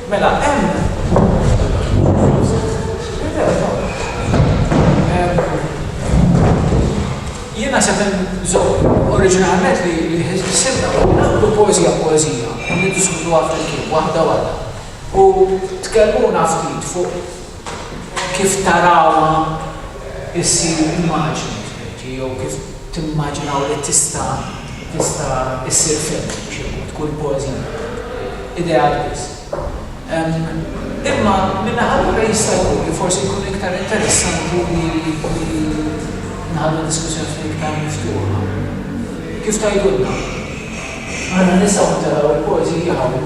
Mela, hemm Jiena se nżomm oriġinalment li ħsibna u nagħmlu poeżija poeżija u niddiskutuha flimkien waħda waħda. U tkellmuna ftit fuq kif tarawha ssir immaġni f'menti jew kif timmaġinaw li tista' tista' ssir film b'xi mod, kull poeżija ideat biss. Imma min-naħa l-oħra jista' jkun li forsi jkun iktar interessanti li li nħallu d-diskussjoni ftit iktar miftuħa. Kif tgħidulna? Aħna nistgħu nitellgħu l-poeżiji hawn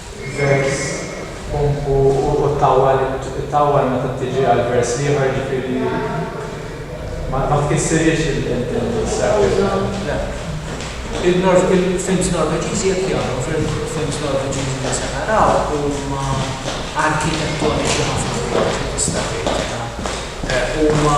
vers b'pump u u ttawwal ittawwal meta tiġi għal vers l-ieħor jiġifieri ma ma tkissirhiex il-structure. Il-films Norveġiżi jekk jagħmlu fil-films Norveġiżi li se naraw huma arkitettoniċi ħafna fil-istati huma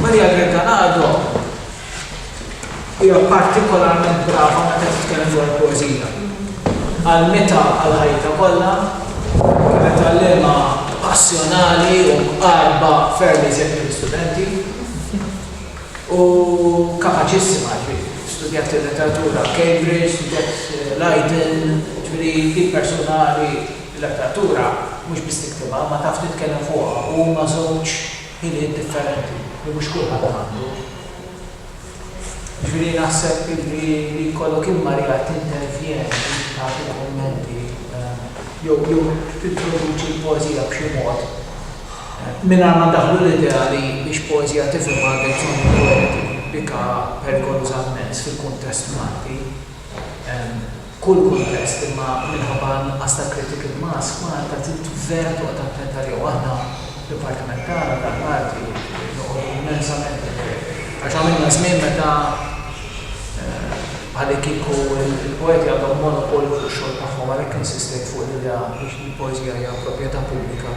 Maria Grecanado hija partikolarment brava meta titkellem dwar il-poeżija. Għallmitha għal ħajtha kollha, kienet għalliema passjonali u mqarrba ferm iżjed mill-istudenti. Hu kapaċissima, jiġifieri studjat il-letteratura f'Cambridge, studjat Leiden, jiġifieri hi persuna li l-letteratura mhux biss tiktibha imma taf titkellem fuqha u huma żewġ ħiliet differenti li mhux kulħadd għandu. Jiġifieri naħseb illi li jkollok int Maria tintervjeni, inti tagħti l-kummenti jew tintroduċi l-poeżija b'xi mod, Mingħajr ma ndaħħlu l-idea li biex poeżija tifhem għandek bżonn poeti bika perikoluża mmens fil-kuntest Malti, kull kuntest, imma minħabba n-nuqqas ta' critical mass, Malta trid vera toqgħod attenta li jew aħna, d-dipartiment tagħna tal-arti, noqogħdu immensament attenti. Għax għamilna żmien meta bħalikieku l-poeti għandhom monopolju fuq ix-xogħol tagħhom, għalhekk insistejt fuq l-idea li l-poeżija hija proprjetà pubblika.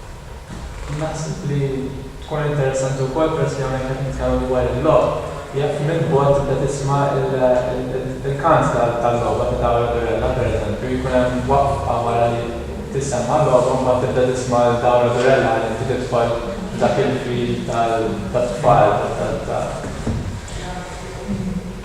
Naħseb li tkun interessanti wkoll peress li hawnhekk qed nitkellmu dwar il-logħob, jekk minn bogħod tibda tisma' l-kant tal-logħba ta' Dawa Redurella pereżempju, jkun hemm waqfa wara li tissemma' logħba mbagħad tibda tisma' lil Dawa Redurella ħalli inti tidħol f'dak il-feel tat-tfal ta'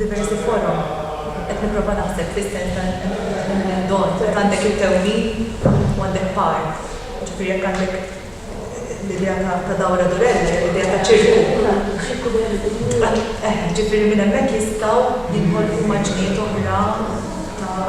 diversi forom qed nipprova naħseb fis-sens ta' l-indon jekk għandek it-tewmin u għandek par jiġifieri jekk għandek l-idea ta' dawra durella jew l-idea ta' ċirku eħe jiġifieri minn hemmhekk jistgħu jinħolqu immaġnijiet oħra ta'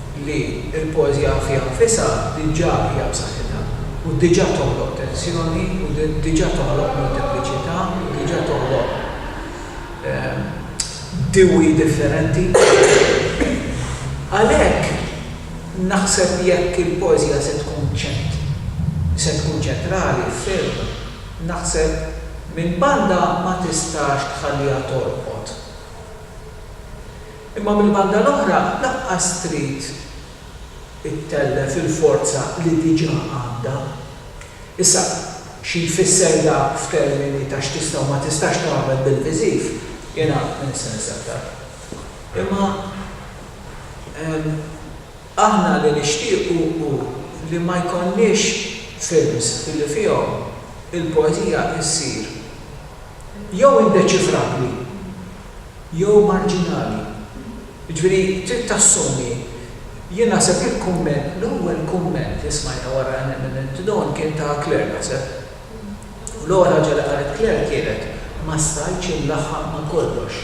li l-poeżija fiha nfisha diġà hija b'saħħitha u diġà toħloq tensjoni u diġà toħloq multipliċità u diġà toħloq dewwi differenti. Għalhekk naħseb jekk il-poeżija se tkun ċent se tkun ċentrali ferm naħseb minn banda ma tistax tħalliha torqod. Imma mill-banda l-oħra lanqas trid ittellef il-forza li diġà għandha. Issa, xi jfisser dak f'termini ta' x'tista' u ma tistax tagħmel bil-viżiv, jiena ma nistaqs aktar. Imma aħna li nixtiequ hu li ma jkollniex films li fihom il-poeżija issir jew indeċifrabbli, jew marġinali. Jiġifieri trid tassumi, jien naħseb li l-kumment, l-ewwel kumment li smajna wara Eminent Down kien ta' Claire naħseb. U l-ewwel ħaġa li qalet Claire kienet, ma stajtx inlaħħaq ma' kollox.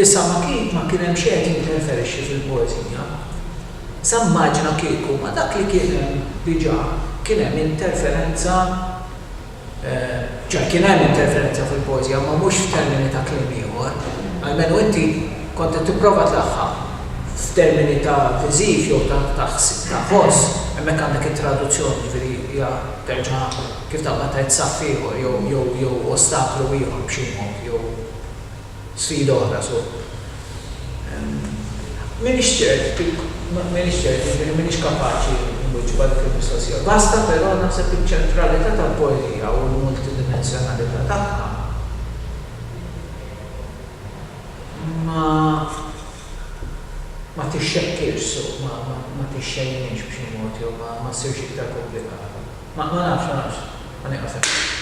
Issa ma kien ma kien hemm xejn qed jinterferixxi fil-poeżija. Issa immaġina kieku ma' dak li kien hemm diġà kien hemm interferenza. Ċoħ, kien hemm interferenza fil-poeżija, imma mhux f'termini ta' kliem ieħor. Almenu inti kont qed tipprova tlaħħaq f'termini ta' viżiv jew ta' ta' ta' ħoss, hemmhekk għandek it-traduzzjoni, jiġifieri hija terġa' kif taqbad tgħid saff ieħor jew jew jew ostaklu ieħor b'xi mod jew. sfida oħra so m'iniex ċert kif m'iniex ċert jiġifieri m'iniex kapaċi inwiġbha dik il-mistoqsija. Basta però naħseb iċ-ċentralità tal-poeżija u l-multidimensjonalità tagħha ma ma tixxekkirx so ma ma tixxejninx b'xi mod jew ma ma ssirx iktar komplikata. Ma ma nafx ma nafx. Ħa nieqaf hekk.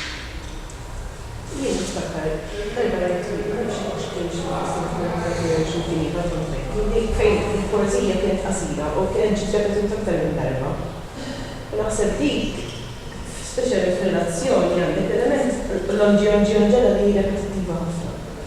Jien niftakar darba rajt twieqi, ma nafx jekk kienx il-qasam tal-Arti jew xi mkien ieħor kont rajt, li fejn il-poeżija kienet qasira u kienet ġiet repetuta aktar minn darba. U naħseb dik, speċjalment f'relazzjoni, għandek l-element l-on-ġi-on-ġi-on-ġela li hi repetittiva ħafna.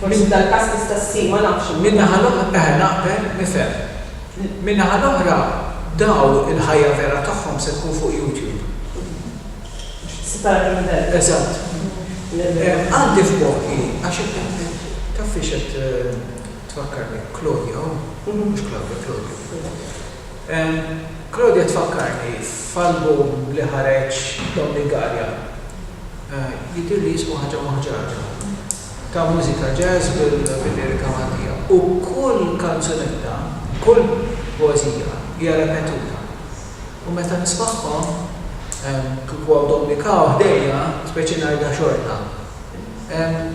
Forsi f'dal każ tista' ssir, ma nafx imma. Min-naħa l-oħra, eħe naqbel, nifhem. Min-naħa l-oħra dawn il-ħajja vera tagħhom se tkun fuq YouTube. Separati mill-belt. Eżatt. Għandi f'moħħi għax taf fiex qed tfakkarni, Claudia hu? Mhux Claudia, Claudio. Claudia tfakkarni f'album li ħareġ Dom Lingarja, jidhirli jismu Ħaġa Moħġaġa, ta' mużika jazz bil-lirika Maltija u kull kanzunetta, kull poeżija hija repetuta u meta nismagħhom kieku hawn Dom Mikaw ħdejja, speċi ngħidha xorta,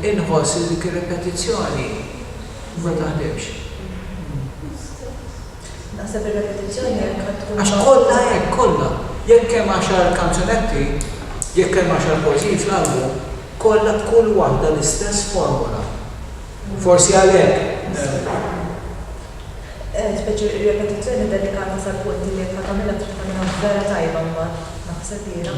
inħoss li dik ir-repetizzjoni ma taħdimx. Naħseb ir-repetizzjoni hekk għad tkun. Għax kollha hekk, kollha. Jekk hemm għaxar kanzunetti, jekk hemm għaxar poeżiji fl-album, kollha b'kull waħda l-istess formola. Forsi għalhekk. Eh, speċi r-repetizzjoni delikata sal-punt li jekk ħa tagħmilha trid tagħmilha vera tajba mbagħad, naħseb jiena.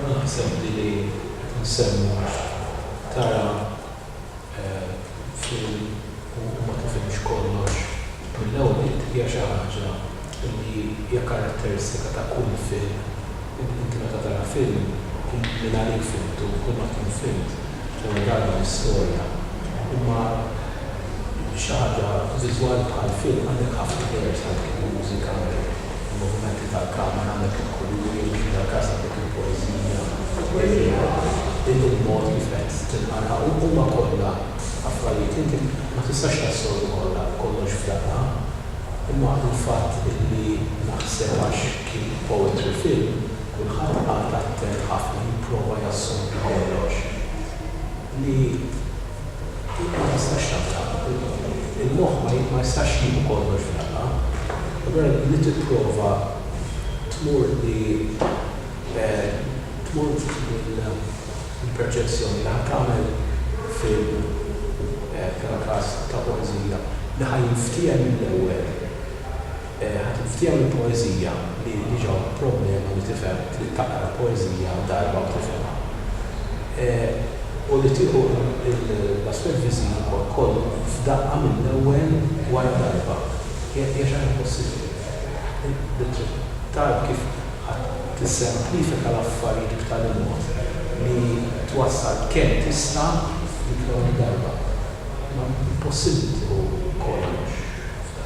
Naħseb li li qed nsemmu għax tara film u ma tifhimx kollox mill-ewwel nett hija xi ħaġa li hija karatteristika ta' kull film. Inti meta tara film mingħalik fhimtu, kull ma tkun fhimt l-ewwel darba l-istorja imma, Xi ħaġa viżwali bħal film għandek ħafna layers għandek il-mużika, għandek il-movimenti tal-kamera, għandek il-kuluri, kif dal-każ għandek il-poeżija, il-riħ, il-mod kif qed tinqara u huma kollha affarijiet li inti ma tistax tassorbi kollha kollox f'daqqa. Imma l-fatt illi naħseb għax kien poetry film, kulħadd qagħad attent ħafna jipprova jassorbi kollox. li int ma tistax taf taqra bil-paroli. Il-moħħ ma ma jistax jieħu kollox f'daqqa. Allura li tipprova tmur li tmur mill-perċezzjoni li ħa tagħmel film bħala każ ta' poeżija li ħa jinftiehem mill-ewwel. Ħa tinftiehem il-poeżija li diġà hu problema li tifhem, trid taqra poeżija darba u tifhimha. U li tieħu l-aspett viżivu kollu f'daqqa mill-ewwel wara darba hija xi ħaġa impossibbli. Li trid tgħarrf kif ħa tissemplifika l-affarijiet b'tali mod li twassal kemm tista' f'dik l-ewwel darba. Imma impossibbli tieħu kollox f'daqqa.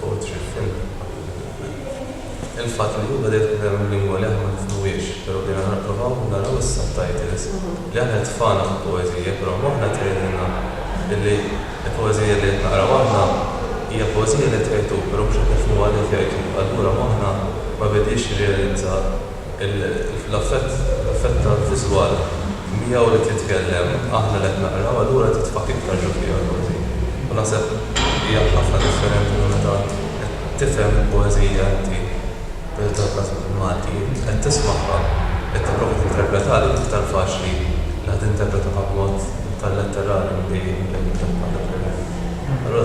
fuq it-triq fejn qabdu l-ħutna. Il-fatt li llum beda jidħol f'ħajja mill-lingwa li aħna ma nifhmuhiex, però bdejna nipprovaw naraw is-subtitles, li aħna jitfagħna fil-poeżija, però moħħna qed jgħidilna illi l-poeżija li qed naqraw aħna hija poeżija li qed jgħid hu, però mhux qed nifhmuha li qed jgħid hu. Allura moħħna ma bediex jirrealizza. L-effett tal-viżwal, miegħu li titkellem, aħna li qed naqraw, allura titfagħ iktar ġo fija l-poeżija. U naħseb hija ħafna differenti minn meta int qed tifhem il-poeżija inti, pereżempju fil-każ Malti, int qed tismagħha, qed tipprova tinterpretha, dik iktar faċli li ħa tinterpretha b'mod iktar letterali milli int li qed titkellem. Allura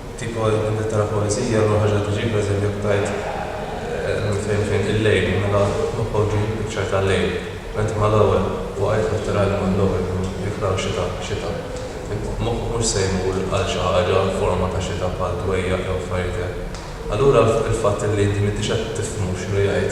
Kieku qed nittra poeżija ma ħaġa tiġi pereżempju btajt minn fejn fejn il-lejl mela noħorġu l-picture tal-lejl bent mal-ewwel waqajt nittra l-mod l-ewwel kienu jiklgħu xita xita imma moħħ mhux se jmur għal xi ħaġa forma ta' xita bħal dwejjaq jew affarijiet hekk allura il-fatt li inti m'intix qed tifhmu x'inhu jgħid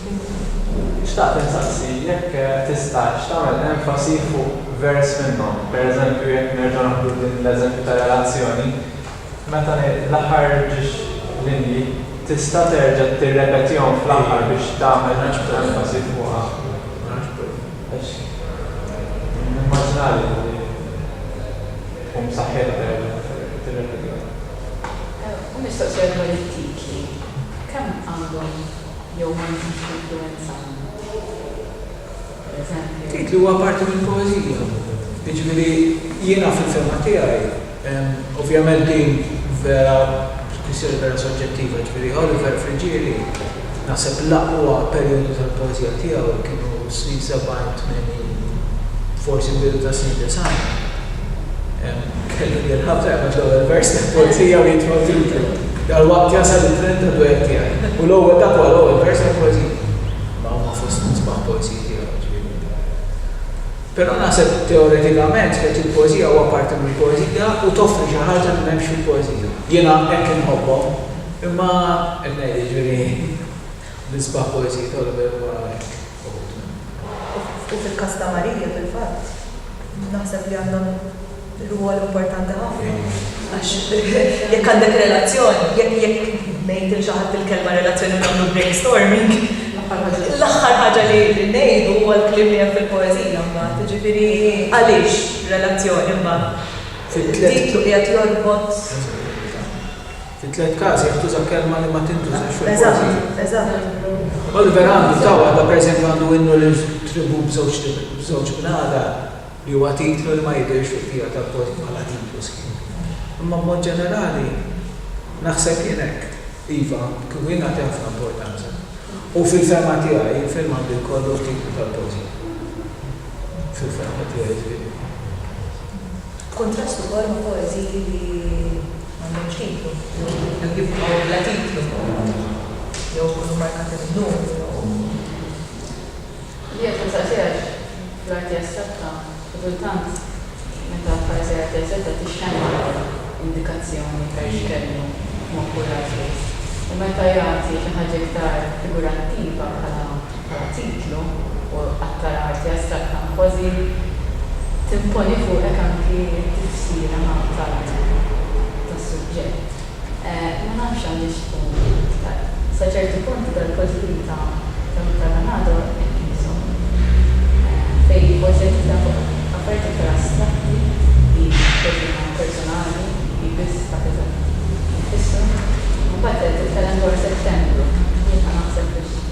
Xtaqt insaqsi jekk tistax tagħmel enfasi fuq vers minnhom, pereżempju jekk nerġgħu naħdu din l-eżempju ta' relazzjoni, meta ngħid l-aħħar ġiex linji, tista' terġa' tirrepetihom fl-aħħar biex tagħmel enfasi fuqha? Għax nimmaġinali li tkun b'saħħitha terġa' tirrepetihom. U mistoqsija dwar it-titli, kemm għandhom? jew ma nżidx l-influwenza għandu, pereżempju. Tgħid li huwa parti mill-poeżija. Jiġifieri jiena fil-fehma tiegħi, ovvjament din vera kwistjoni vera soġġettiva, jiġifieri Oliver Friggieri naħseb l-aqwa perijodu tal-poeżija tiegħu kienu s-snin 70, 80, forsi l-bidu tas-snin 90. Kelli nil-ħabta jgħamil l-ewel vers ta' poezija u jitfaw titlu. Dal-waqt jasal il-tren ta' duett tijaj. U l-ewel dak huwa l-ewel vers ta' poezija. Imma huma fost l-isbaħ poeziji tiegħu, ġifieri l-ewel. Pero naħseb teoretikament jgħid il-poezija huwa parti mill-poezija u toffri xi ħaġa li m'hemmx fil-poezija. Jiena hekk inħobbhom. Imma qed ngħid, ġifieri l-isbaħ poeziji ta' Oliver huwa hekk. U fil-każ ta' Marija, fil-fatt, naħseb li għandha rwol importanti ħafna. Għax jekk għandek relazzjoni, jekk jekk ngħid lil xi ħadd il-kelma relazzjoni u nagħmlu brainstorming, l-aħħar ħaġa li ngħidu huwa l-kliem li hemm fil-poeżija mbagħad. Jiġifieri għaliex relazzjoni mbagħad? Dik li qiegħed jorbot. Fit-tliet każi qed tuża kelma li ma tintużax fil-poeżija. Oliver għandu ta' waħda, pereżempju għandu Innu lill-tribù b'żewġ bnadar, li huwa titlu li ma jidhirx fil-qija tal-poeżija bħala titlu sħiħ. Imma b'mod ġenerali naħseb jien hekk. Iva, kieku jien nagħti ħafna importanza. U fil-fehma tiegħi il-film għandu jkollu t-titlu tal-poeżija. Fil-fehma tiegħi, ġifieri. B'kuntrast ukoll ma' poeżiji li m'għandhomx titlu jew jibqgħu bla titlu jew ikunu mmarkati minn numru jew. Li qed nagħżel tiegħek fl-arti astratta xi kultant meta f'arti arti astratta tixxandar l-ewwel indikazzjoni per x'kellu ma' kull artist u meta jagħti xi ħaġa iktar figurattiva bħala bħala titlu u qattar arti astratta kważi timponi fuqek anki t-tifsira tal-arti tas-suġġett. Ma nafx għandhiex tkun iktar. Sa ċertu punt dal-kotbien ta' Michael Lanado hekk qishom. Fejn jippoġġa dita fuq affarijiet iktar astratti li kważi huma personali li biss ta' kif qed jitfissru. Imbagħad qed titkellem dwar Settembru. Jien ħa naħseb biex.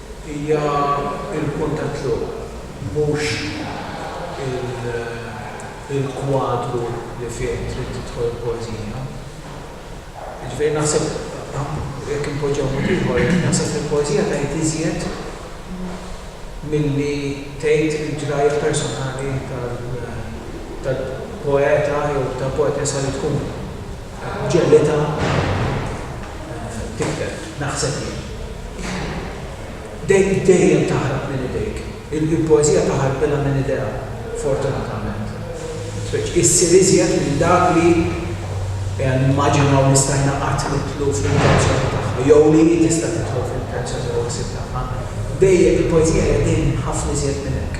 Hija l-punt ta' tluq, mhux il-kwadru li fih trid tidħol il-poeżija. Jiġifieri naħseb, jekk inpoġġiha b'mod ieħor, naħseb li l-poeżija tgħid iżjed milli tgħid il-ġrajja personali tal-poeta jew tal-poetessa li tkun. Ġellitha tikber, naħseb jien. Dejjem, dejjem taħrab minn idejk. Il-poeżija taħrab ilha minn idejha, fortunatament. Spiċċa issir iżjed minn dak li nimmaġinaw li stajna qatt nidħlu fl-intenzjoni tagħha, jew li hi tista' tidħol fl-intenzjoni jew il-ħsieb tagħha. Dejjem, il-poeżija hija dejjem ħafna iżjed minn hekk.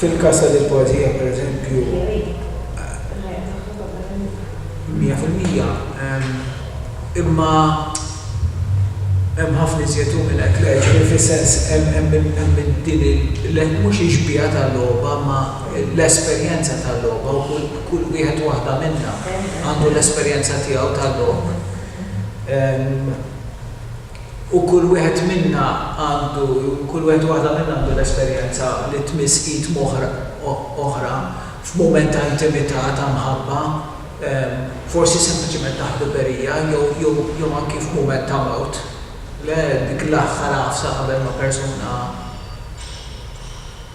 Fil-każ ta' Deal Poesia, pereżempju, 100 fil-mija, imma hemm ħafna iżjed hu minn hekk, le, ġifieri fis-sens hemm din il, mhux ix-xbieha tal-logħba imma l-esperjenza tal-logħba u kull wieħed u waħda minna għandu l-esperjenza tiegħu tal-logħob. U kull wieħed minna għandu, kull wieħed u waħda minna għandu l-esperjenza li tmiss id m'oħra, oħra, f'mument ta' intimità, ta' mħabba, forsi sempliċement ta' ħbiberija, jew, jew, jew anki f'mument ta' mewt. Le, dik l-aħħar għafsa qabel ma persuna.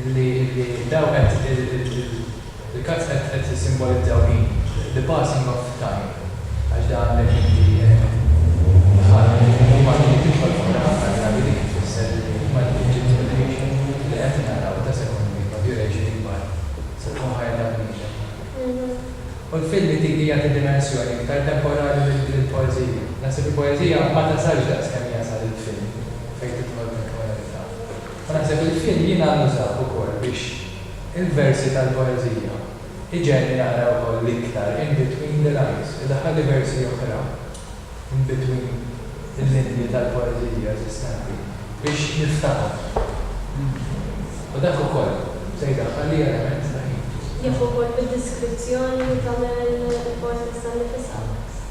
Illi dawn qed il-cards qed jissimbolizzaw min? The passing of time. Għax da għandek inti bħal Malti li tidħol f'moħħna ħafna drabi dik tfisser li huma l-ages of duration li qed naraw ta' sekondi ta' duration ikbar sa tkun ħajja tal-bniedem. U l-filmi dik jagħti dimensjoni iktar temporali lill-poeżija. Naħseb il-poeżija ma tasalx daqskemm jasal il-film fejn tidħol temporalità. F'naħseb il-fil jiena nużah ukoll biex il-versi tal-poeżija iġegħelni naqra wkoll l-iktar in between the lines, idaħħalli versi oħra in between il-linji tal-poeżija eżistenti biex niftahom. U dak ukoll se jdaħħalli element ta' ħin. Jaf ukoll bid-deskrizzjoni li tagħmel il-poetessa nnifisha.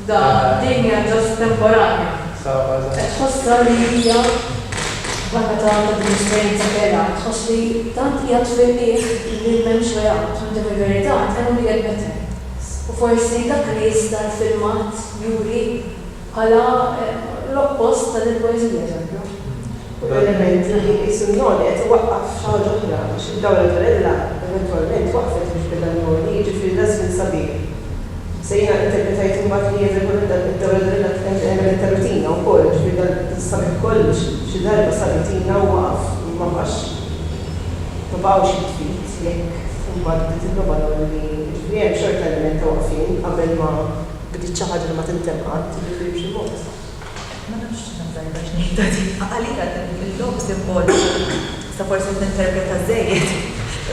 Iżda din hija ġast temporanja. Qed tħossha li hija barra ta' din l-esperjenza vera, qed tħoss li tant qiegħed fil-qiegħ li m'hemmx way out. Għandhom il-verità, and can only get better. U forsi dak li jista' l-filmat juri bħala l-oppost ta' din il-poeżija, eżempju. Kull element li ħa qisu n-noli qed iwaqqaf xi ħaġa oħra għax id-dawla ta' Rella eventwalment waqfet biex beda n-noli, jiġifieri l-għażżin sabiħ. Se jiena interpretajt imbagħad li jidher bħal meta id-dawla ta' Rella għemlet ta' rutina wkoll, jiġifieri dal-sabiħ kollu xi darba sar rutina u waqaf u ma baqax ma baqgħux jitfiet jekk imbagħad bdiet il-logħba noli li jiġifieri hemm xorta element ta' waqfien qabel ma bdiet xi ħaġa li ma tintemm qatt, jiġifieri b'xi mod. Ma nafx x'ħaġa tajba x'ngħidha di. Għalija din il-logħob simboliku nista' forsi qed ninterpreta żżejjed,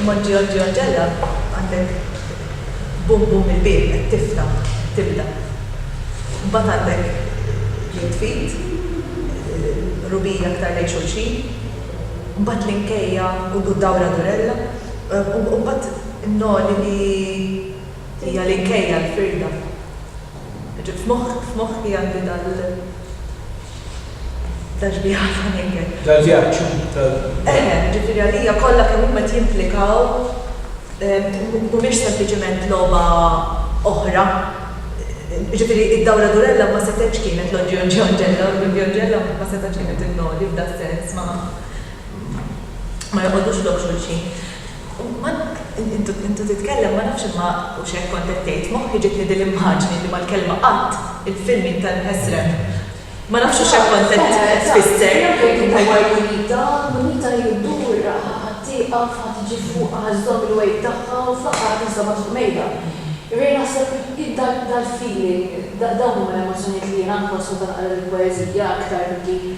imma ġġiegħel ġġiegħel ġella għandek bum bum il-bieb qed tiftaħ, qed tibda. Imbagħad għandek ġid ftit, qrubija aktar lejn xulxin, imbagħad l-inkejja u d-dawra durella, u imbagħad in-noli li hija l-inkejja, l-firda. Ġibt f'moħħi anki dal-vjaġġ f'għajnejk. Dal-vjaġġ tal. Eħe, ġifieri għalija kollha kemm huma qed jimplikaw mhumiex sempliċement logħba oħra. Ġifieri id-dawra Durella ma setgħetx kienet l-Oġġio Ġorġella, l-Oġġioġella ma setgħetx kienet il-Noli f'das-sens, ma joqogħdux lok xulxin. Intu titkellem ma nafx imma hux hekk kont qed tgħid, moħħi ġietni din l-immaġni li mal-kelma qatt, il-filming tal-mhesreb. Ma nafx hux hekk kont qed tfisser. Dak li jkun huwa jridha, munita hi ddur, ħa tieqaf, ħa tiġi fuqha, ħa żżomm il-weight tagħha u fl-aħħar ħa tiżżommha fuq mejda. Jiġifieri naħseb hi dal-feeling, dawn huma l-emozzjonijiet li jiena nħoss meta naqra lill-poeżija aktar milli.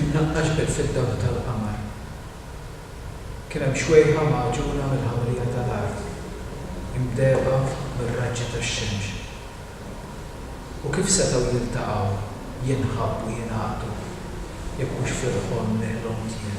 imnaqqax bil fid-dawl tal-qamar. Kien hemm xwejħa magħġuna mill-ħawrija tal-art, imdehba mir-raġġi tax-xemx. U kif setgħu jiltaqgħu, jinħabbu, jingħaqdu, jekk mhux fil-ħolm li ħlomt jien?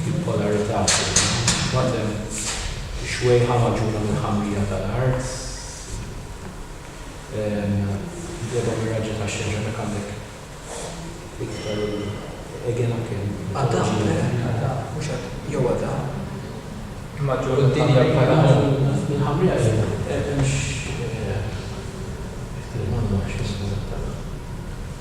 Bipolarità fil-bottom, ix-xwejħa magħġuna mill-ħamrija tal-art, mqlieba mir-raġġa tax-xemx, hemmhekk għandek iktar il-egenaken, mitoloġija.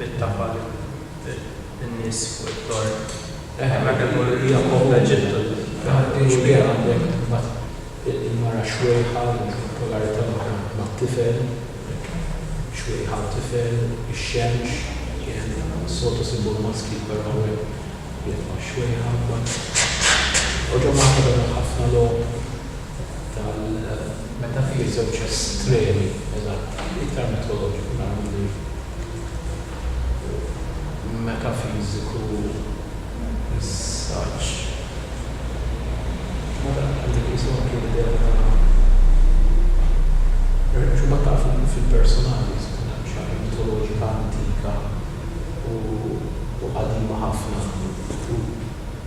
Bittafa lil nies fuq it-torn. Eħe, meta jkun Jakobb Eġittu xbieha għandek imbagħad il-mara xwejħa, il-polarità l-oħra mat-tifel, hekk, xwejħa u tifel, ix-xemx, qiegħed, s-soltu sibuha maskil però hawnhekk qiegħed ma' xwejħa imbagħad. Oġomata beda ħafna logħob. tal meta fih iż-żewġ estremi eżatti, iktar mitoloġiku naraw milli metafiżiku is-saġġ. Ma dan għandu jqisu anki l-idea ta' Għaliex imbagħad tafu fil-personaġġi tkun xi ħaġa mitoloġika antika u qadima ħafna u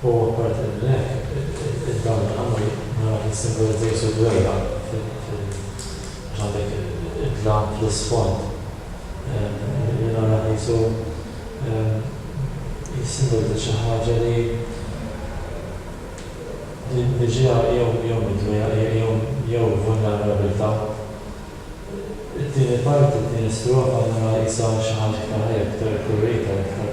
U apparti minn hekk, id-dawl tal-qamar naraw li jissimbolizza Ġesù d-dwejjaq għax għandek id-dlam fl-isfond. Li naraw Ġesù jissimbolizza xi ħaġa li ġejja jew mid-dwejjaq jew vulnerabbiltà. It-tieni parti, it-tieni strofa naraw qisha xi ħaġa iktar ħajja, iktar ikkulurita, iktar.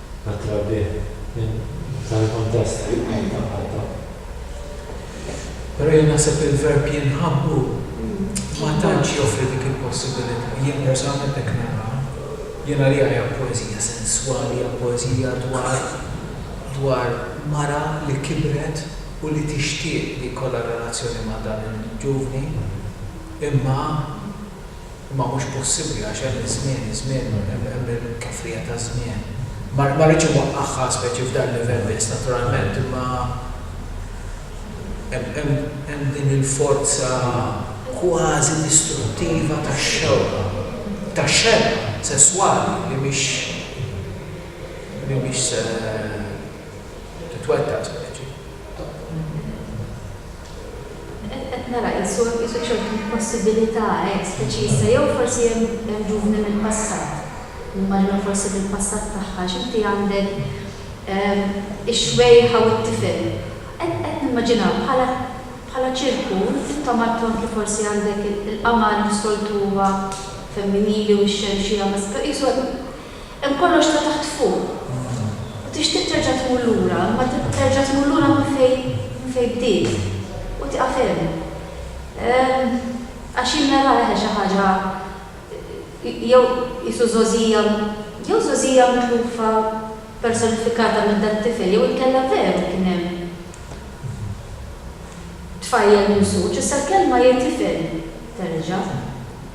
tat-trabbieħ minn dan il-kuntest ta' Malta. Però jien naħseb li l-verb jinħabbu ma tantx joffri dik il-possibilità. Jien personalment hekk naraha. Jien għalija hija poeżija senswali, hija poeżija dwar dwar mara li kibret u li tixtieq li jkollha relazzjoni ma' dan il-ġuvni imma, Imma mhux possibbli għax hemm iż-żmien, iż-żmien, hemm il-kefrija taż-żmien. Ma ma rridx inwaqqagħha speċi f'dan livell biss naturalment imma hemm hemm hemm din il-forza kważi distruttiva tax-xewqa, tax-xewqa sesswali li mhix li mhix se titwettaq speċi. Hekk qed nara qisu hemm qisu ċertu possibilita' hekk speċi issa jew forsi hemm hemm ġuvni mill-passat, nimmaġina forsi mill-passat tagħha għax inti għandek ix-xwejħa u t-tifel. Qed qed nimmaġina bħala bħala ċirku intom għadtu anki forsi għandek il-qamar li s-soltu huwa femminili u x-xemx hija maskila qisu hemm Hemm kollox ta' taħt fuq. U tixtieq terġa' tmur lura, imma terġa' tmur lura minn fejn minn fejn bdiet. U tieqaf hemm. Għax jien naraha eħe xi ħaġa jew qisu żgħożija jew żgħożija mitlufa personifikata minn dat-tifel jew inkella veru kien hemm tfajjel mimsuġ, issa l-kelma hi tifel terġa'.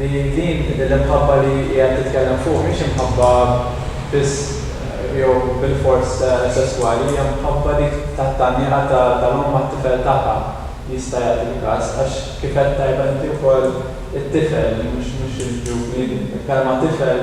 Li din l-imħabba li qiegħed titkellem fuq mhix imħabba biss jew bilfors sesswali, hija mħabba dik tat-tgħanniqa tal-omm għat-tifel tagħha jista' jagħti l-każ, għax kif għedt tajba inti wkoll it-tifel mhux il-ġuvni, il-kelma tifel,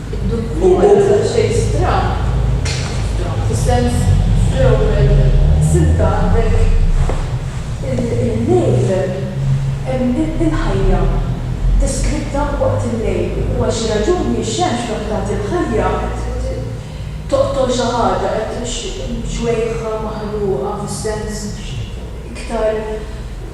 Id-dukkura ta' Chase Trump, Trump fis-sens fl-ewwel silta għandek il-lejl, hemm il-ħajja deskritta waqt il-lejl u għal xi raġuni x-xemx dawk tagħti l-ħajja toqtol xi ħaġa qed xwejħa maħruqa fis-sens iktar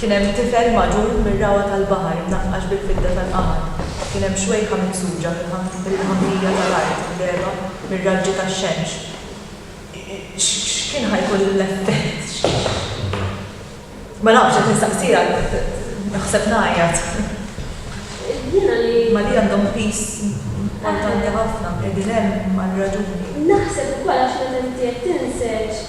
Kien hemm tifel magħġun mir-rawgħa tal-baħar imnaqqax bil-fidda tal-qamar, kien hemm xwejħa miksuġa mill-ħamrija tal-art imdehba mir-raġġi tax-xemx. X'kien ħa jkun l-effett? Ma nafx, qed nistaqsija, naħseb ngħajjat. Jiena li. Ma li għandhom piż importanti ħafna, qegħdin hemm għal raġuni. Naħseb ukoll għax meta inti qed tinżeġ.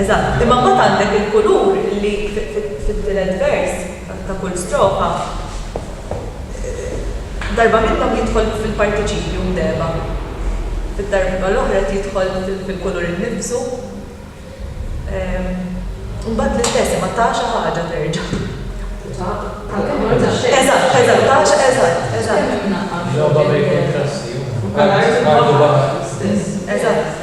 Eżatt. Imma mbagħad għandek il-kulur li fit-tielet vers ta' kull strofa darba minnhom jidħol fil-partiċipju mdegħba, fid-darba l-oħra qed jidħol fil-kulur innifsu. Mbagħad l-istess, imma ta' xi ħaġa terġa'. Ta' tal-kulur tax-xejn. Eżatt, eżatt, ta' xi eżatt, eżatt. Logħba bejn kuntrasti. Bħal art u baħar l-istess. Eżatt.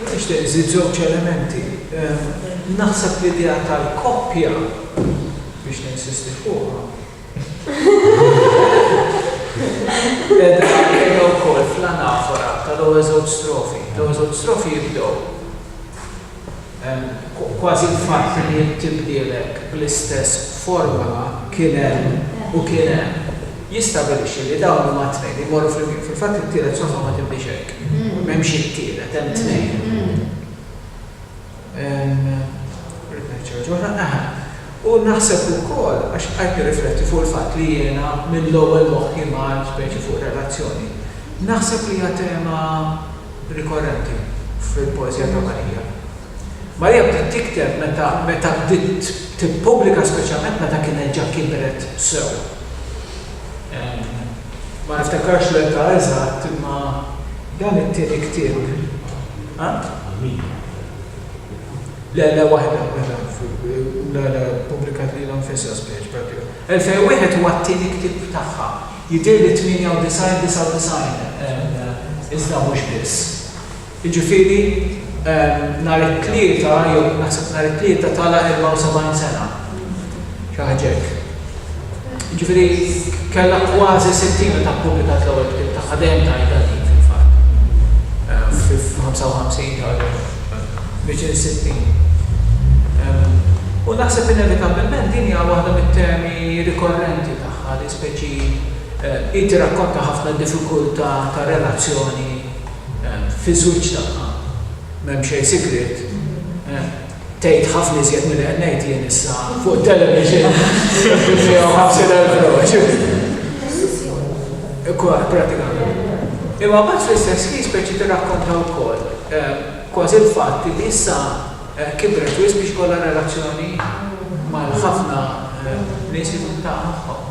Jien nixtieq nżid żewġ elementi. Naħseb l-idea tal-koppja, biex ninsisti fuqha, qiegħda wkoll fl-anafora tal-ewwel żewġ strofi. L-ewwel żewġ strofi jibdew. Kważi l-fatt li int tibdielek bl-istess formula kien hemm u kien hemm, jistabilixxi li dawn huma t-tnejn li jmorru flimkien. Fil-fatt it-tielet soffa ma tibdiex hekk. M'hemmx it-tielet, hemm tnejn. Rrid ngħid xi ħaġa oħra, aħa. U naħseb ukoll, għax qgħidt nirrifletti fuq il-fatt li jiena mill-ewwel moħħi mar speċi fuq relazzjoni. Naħseb li hija tema, rikorrenti fil-poeżija ta' Marija. Marija bdiet tikteb meta meta bdiet tippubblika speċjalment meta kienet ġa kibret sew. Ma niftakarx l-età eżatt imma dan it-tieni ktieb, ha? Le le waħda waħda le le ppubblikat lilha nfisha spiċ prattikament. 2001 huwa t-tieni ktieb tagħha Jidhirli 98, 99, iżda mhux biss. Jiġifieri nhar it-Tlieta jew naħseb nhar it-Tlieta tala' 74 sena. Xi ħaġa hekk. Jiġifieri kellha kważi 60 meta ppubblikat l-ewwel ktieb tagħha, dejjem tgħidha din fil-fatt. Fil-55 ġara l-ewwel, viċin is-60. U naħseb inevitabbilment din hija waħda mit-temi rikorrenti tagħha. speċi hi tirrakkonta ħafna diffikultà ta' relazzjoni fiż-żwieġ tagħha. M'hemm xejn sigriet. Tgħid ħafna iżjed milli qed ngħid jien issa fuq it-television bi 150,000 broċur. Kważi, prattikament. Imma mbagħad fl-istess ħin speċi tirrakkonta wkoll kważi l-fatt li issa Kibret wisq biex ikollha relazzjoni mal-ħafna nies li tkun taf magħhom.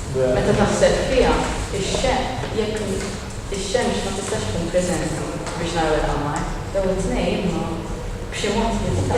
Meta taħseb fiha, ix-xemx, jekk ix-xemx ma tistax tkun preżenti biex naraw il-qamar, jew it-tnejn, imma b'xi mod tista'.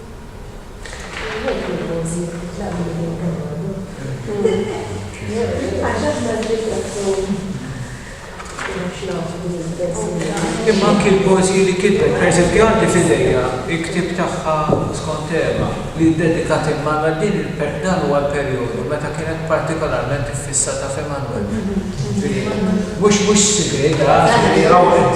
Imma anki l-poeżiji li kitbet, pereżempju għandi f'idejja l-ktieb tagħha Skont Tema li ddedikat imma għal din il-, dan huwa l-perjodu meta kienet partikolarment iffissata f'Emmanuel. Jiġifieri mhux mhux sigriet, għażel li rawwet.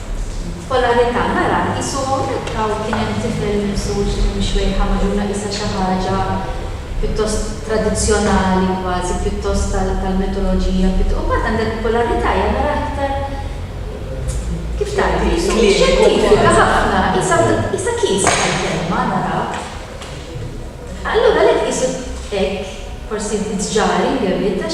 B'polarità nara qisu hawnhekk hawn kien hemm tifel mimsux minn xwejħa magħżula qisha xi ħaġa pjuttost tradizzjonali kważi pjuttost tal-mitoloġija pjutto u mbagħad għandek b'polarità hija naraha iktar kif tgħid xjentifika ħafna qisha qisha kies bħall-kelma naraha allura l-hekk qisu hekk forsi bit-tġari ngerritax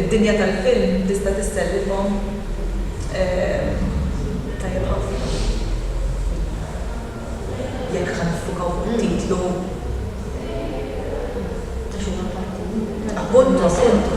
Id-dinja tal-film tista' tissellifhom tajjeb ħafna jekk ħa niffukaw fuq it-titlu ta' xi waħda. Appuntu, appuntu.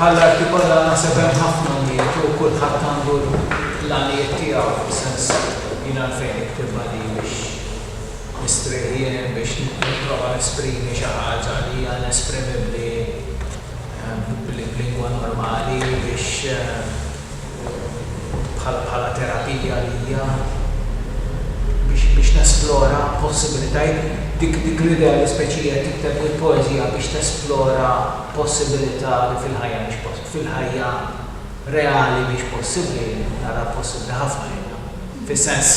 Bħall-arti kollha naħseb hemm ħafna għanijiet u kulħadd għandu l-għanijiet tiegħu fis-sens jien għalfejn niktibha di biex nistrieħ jien, biex nipprova nesprimi xi ħaġa li hija inesprimibbli b'lingwa normali biex, bħala terapija għalija biex nesplora possibilitajiet. Dik l-idea li speċi hija tikteb il-poeżija biex tesplora possibilità li fil-ħajja mhix possibbli, fil-ħajja reali mhix possibbli, naraha possibbli ħafna jiena. Fis-sens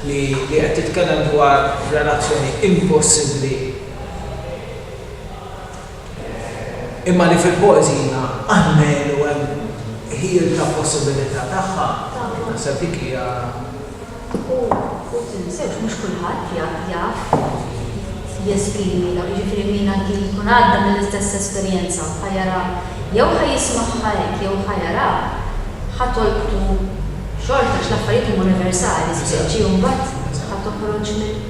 li qed titkellem dwar relazzjoni impossibbli. imma li fil-poeżina Anhelu hemm ħiel ta' possibilità tagħha, naħseb dik hija. U tinsewx, mhux kulħadd jaf jesprimi dawn, jiġifieri min anki jkun għadda mill-istess esperjenza ħa jara, jew ħa jismagħha hekk jew ħa jara, ħa tolqtu xorta għax l-affarijiet huma universali, speċi u mbagħad ħa toħroġ minn.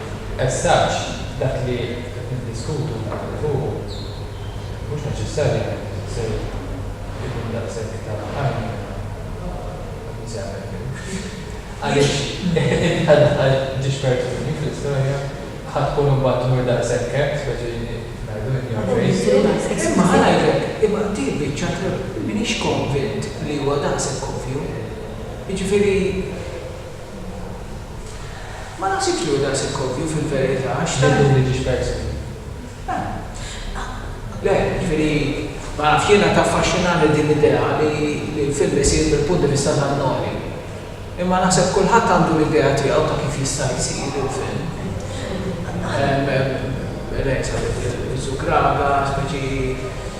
Messaġġ, Dak li qed niddiskutu u naħdmu fuqu mhux neċessarjament se jkun daqshekk ta' għajnuna għall-Mużeament Grieg. Għaliex int bħal daħħal ġiex persuni fl-istorja ħa tkun imbagħad tmur daqshekk hekk, speċi kif ngħidu in your face? Imma ħanajtek, imma dik biċċa m'iniex konvint li huwa daqshekk ovvju. Jiġifieri. Ma nafx jekk jieħu daqshekk ovvju fil-verità għax tant. Lil Luigi Sperzi? Le, jiġifieri, ma nafx, jiena taffaxxinani din l-idea li l-film isir mill-punt di vista ta' Noli. Imma naħseb kulħadd għandu l-idea tiegħu ta' kif jista' jsir il-film. Lei sapete, il-Zucraga, speċi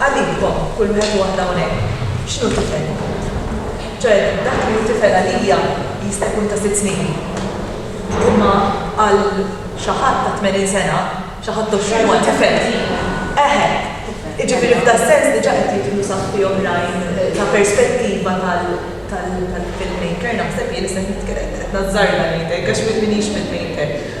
Għalikom, kull wieħed u waħda hawnhekk, x'inhu tifel ikut? Ċoe, dak li hu tifel għalija jista' jkun ta' sitt snin, imma għal xi ħadd ta' tmenin sena, xi ħadd għoxrin huwa tifel. Eħe! Jiġifieri f'das-sens diġà qed jidħlu saħħti oħrajn ta' perspettiva tal-filmmaker, naħseb jien, issa qed nazzarda ngħidlek għax m'iniex filmmaker.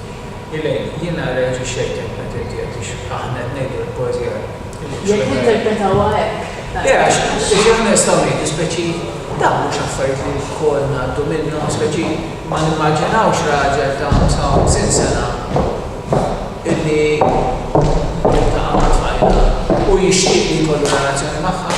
Elaine, Jiena rreaġixxejt hekk meta inti għedt li aħna qed ngħidu li poeżija hi xi ħaġa li. Jekk ninterpretawha hekk. Le għax aħna nistgħu ngħidu speċi dawn mhux affarijiet li lkoll ngħaddu minnhom, speċi ma nimmaġinawx raġel ta' 55 sena illi jiltaqa' ma' tfajla u jixtieq li jkollu relazzjoni magħha.